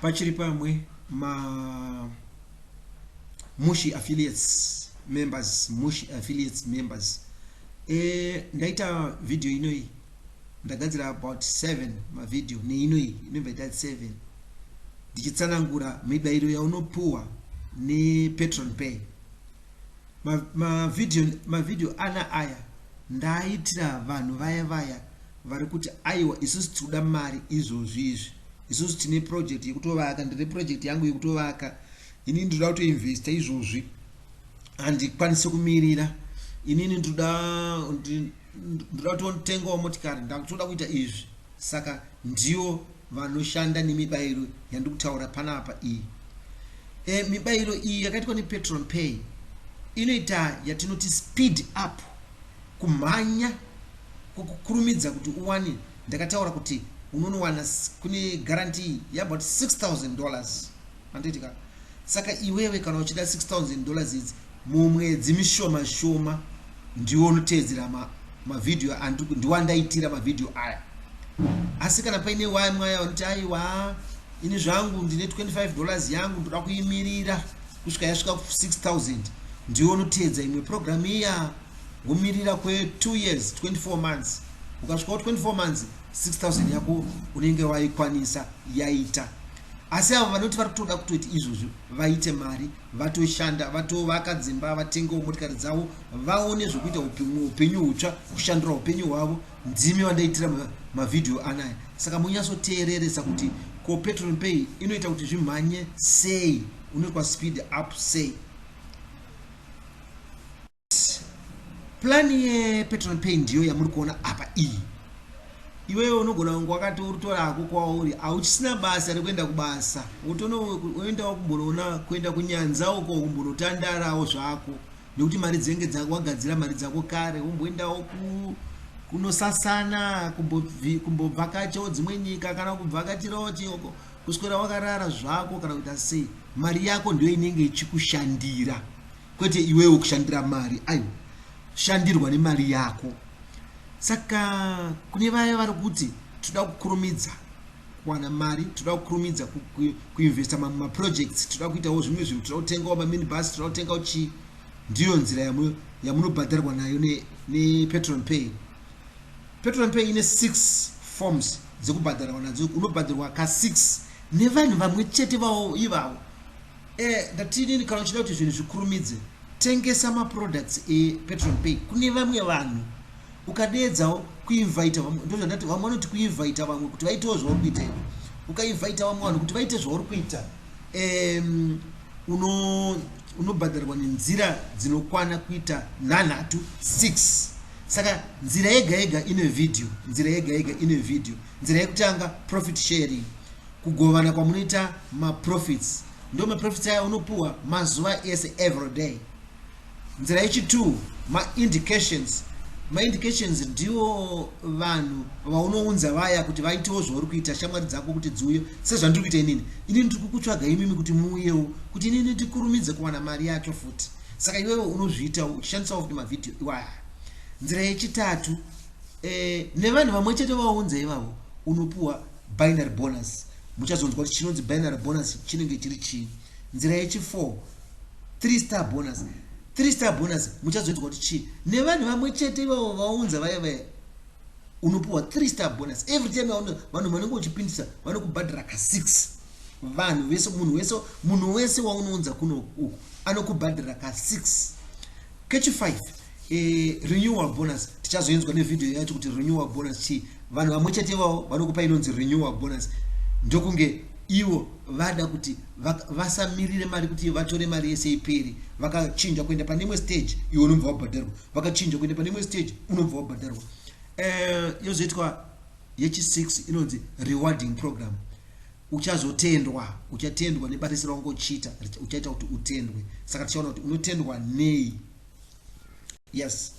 pachiri pamwe ma mushi affiliates members mushi affiliates members e, ndaita video inoyi ndagadzira about 7 mavideo neinoyi inobva ita 7 ndichitsanangura mibairo yaunopuwa nepatron pay mavideo ma mavideo ana aya ndaaitira vanhu vaya vaya vari kuti aiwa isusu tiri kuda mari izvozvi izvi isusu tine project yekutovaka ndine project yangu yekutovaka inini ndinoda kutoinvesta izvozvi handikwanise kumirira inini ndinoda ndinoda kutotengawo motikari ndakutoda kuita izvi saka ndiyo vanoshanda nemibairo yandiri kutaura panapa iyi. E, mibairo iyi yakaitwa nepetron pay inoita yatinoti speed up kumhanya kukukurumidza kuti uwane ndakataura kuti unonowana kune guarantee yabout 6000 dollars anditika saka iwewe kana uchida 6000 dollars idzi Mumwedzi mishoma shoma ndiwo unoteedzera ma, mavhidhiyo ndiwandaitira mavhidhiyo aya asi kana paine waya mwaya vanoti aiwa ini zvangu ndine 25 dollars yangu ndoda kuimirira kusvika yasvika 6000 ndiwo unoteedza imwe programu iya womirira kwe2 years 24 months ukasvikawo 24 months 6000 yako unenge waikwanisa yaita asi avo vanoti vari kutoda kutoti izvozvo vaite mari vatoshanda vatovaka dzimba vatengawo motikari dzavo vaone zvekuita upenyu hutsva kushandura upenyu hwavo ndimi vandaitira mavhidhiyo ma anaya saka munyatsoteereresa kuti ko petrol pay inoita kuti zvimhanye sei unoitwa speed up sei plan yepetrol pay ndiyo yamuri kuona apa iyi iwewe unogona kunge wakati uritora hako kwauri auchisina basa rekuenda kubasa wotonoendawo kumbonoona kuenda kunyanza uko kumbonotandarawo zvako nekuti mari dzenge dzako wagadzira mari dzako kare womboendawo kunosasana kumbobvakachawo dzimwe nyika kana kubvakachirawo chioko kuswera wakarara zvako kana kuita sei mari yako ndiyo inenge ichikushandira kwete iwewe kushandira mari aiwa shandirwa nemari yako saka kune vaya vari kuti toda kukurumidza kuwana mari toda kukurumidza kuinvesta mamwe maprojects toda kuitawo zvimwe zvinhu toda kutengawo maminibus toda kutengawo chii ndiyo nzira yamunobhadharwa nayo nepetrol pay petrol pay ine six forms dzekubhadharwa nadzo unobhadharwa ka six nevanhu vamwe chete vawo ivavo Eh, ndati inini kana uchida kuti zvinhu zvikurumidze tengesa maproducts epetron pay kune vamwe vanhu ukadeedzawo kuinvita vamwe ndozvandati vamwe vanoti kuinvita vamwe kuti vaitewo zvauri kuita ivo ukainvita vamwe vanhu kuti vaite zvauri kuita um, uno unobhadharwa nenzira dzinokwana kuita nhanhatu six saka nzira yega yega ine vhidhiyo nzira yega yega ine vhidhiyo nzira yekutanga profit sharing kugovana kwamunoita maprofits ndo maprofits aya unopuwa mazuva ese every day nzira yechi two maindications maindications ndiwo vanhu vaunounza vaya kuti vaitewo zvauri kuita shamwari dzako kuti dziuye sezvandiri kuita inini inini ndiri kukutsvaga imimi kuti muuyewo kuti inini ndikurumidze kuwana mari yacho futi saka iwewe unozviitawo uchishandisawo futi mavhidhiyo iwaya nzira yechitatu eh, nevanhu vamwe chete vaunza ivavo unopuwa Binary bonus. Muchazonzwa kuti chinonzi binary bonus chinenge chiri chii. Nzira yechi 4 3 star bonus. 3 star bonus muchazonzwa kuti chii. Nevanhu vamwe chete ivavo vaunza vaya vaya unopuwa 3 star bonus every time vanhu vanenge uchipindisa vanokubhadhara ka 6 vanhu vese munhu wese munhu wese waunounza kuno uku anokubhadhara ka 6 kechi 5 Eh, renewal bonus tichazoinzwa nevideo yacho kuti renewal bonus chii vanhu vamwe chete vavo vanokupa inonzi renewal bonus ndokunge ivo vada kuti vasamirire mari kuti vatore mari yese iperi vakachinja kuenda pane imwe stage iwe unobva wabhadharwa vakachinja kuenda pane imwe stage unobva wabhadharwa eh, yozoitwa yechisix inonzi rewarding program uchazotendwa uchatendwa nebata isira ungochita uchaita kuti utendwe saka tichaona kuti unotendwa nei Yes.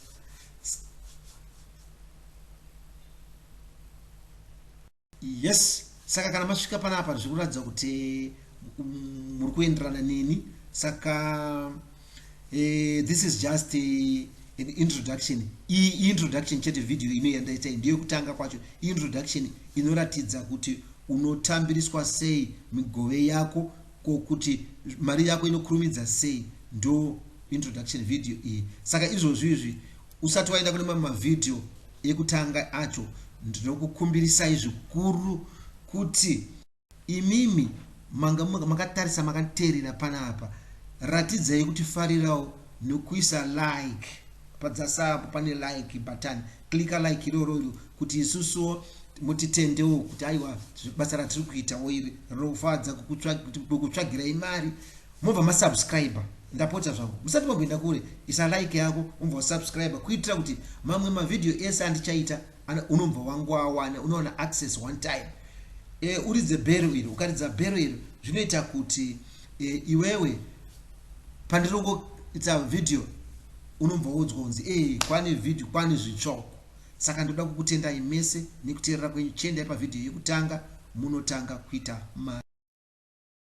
Yes. Saka kana masvika panapa zviri kuratidza kuti mm, muri kuenderana neni saka eh, this is just eh, an introduction iyi introduction chete video ino yandaita ndiyo kutanga kwacho introduction inoratidza kuti unotambiriswa sei migove yako Ko kuti mari yako inokurumidza sei ndo introduction video iyi. Saka izvozvi izvi usati waenda kune mamwe mavideo ekutanga acho ndinokukumbirisai zvikuru kuti imimi manga makatarisa makateerera panapa ratidzai kuti farirawo nokuisa like padzasapo pane like button Clicker like iroro iro kuti isusuwo mutitendewo kuti aiwa basa ratiri kuitawo iri rinofadza kukutsvagira imari mobva masubscriber ndapota zvangu musati makuenda kure isa like yako umbva wasubscriber kuitira kuti mamwe mavhidhiyo ese andichaita unombva wangu awana unowana access one time e, uridze bhero iri ukaridza bhero iri zvinoita kuti e, iwewe pandirongoita vhidhiyo unobva woudzwa kunzi ee kwane vhidhiyo kwane zvitsvoko saka ndoda kukutendai mese nekuteerera kwenyu chiendai pavhidhiyo yekutanga munotanga kuita mari